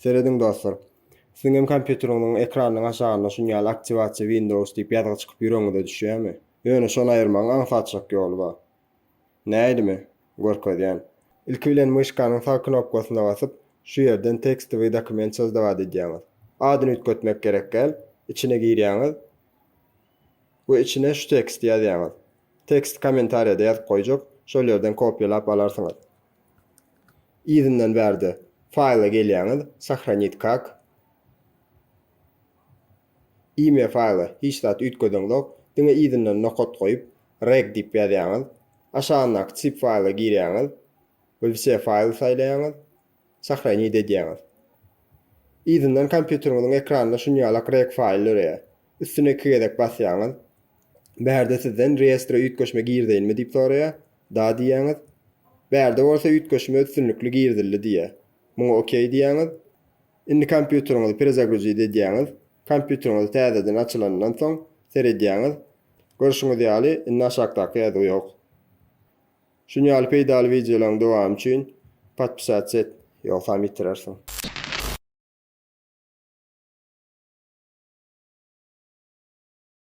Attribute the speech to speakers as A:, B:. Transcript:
A: Serediň dostlar. Siziňem kompýuteriňiziň ekranynyň aşagynda şun ýaly Aktiwasiýa Windows diýip ýazgy çykyp ýüregiňize düşýärmi? Ýöne şony aýyrmagyň aňsatjak ýoly bar. Nädimi? Görkezýän. Ilki bilen myşkanyň sag knopkasyna basyp, şu ýerden Tekstowyý dokument sözlügat edýäňiz. Adyny üýtgetmek gerek däl. Içine girýäňiz we içine şu teksti ýazýaňyz. Teksti kommentariýada ýazyp goýjak, şol ýerden kopýalap alarsyňyz. Yzyndan bärde Faýla gelýäňiz, Sahranit kak. Imya faýla hiç zat üýtgedeňzok, diňe yzyndan nokat goýup, Reg diýip ýazýaňyz. Aşagyndaky Zip faýla girýäňiz we Wse faýly saýlaýaňyz, Sahranit edýäňiz. Yzyndan kompýuteriňiziň ekranynda şuny ýalak Reg faýl döreýär. Üstüne iki gezek basýaňyz. Bärde sizden reýestre üýtgeşme girdeýinmi diýip soraýar. Da diýýäňiz. Bärde bolsa üýtgeşme üstünlikli girizildi diýýär. Muňa okey diýýäňiz. Indi kompýuteriňizi perezagruzit edýäňiz. Kompýuteriňizi täzeden açylanyndan soň seredýäňiz. Görşüňiz ýaly, indi aşakdaky ýazgy ýok. Şuny ýaly peýdaly wideolaryň dowamy üçin podpisatsa et, ýogsam ýitirersiň.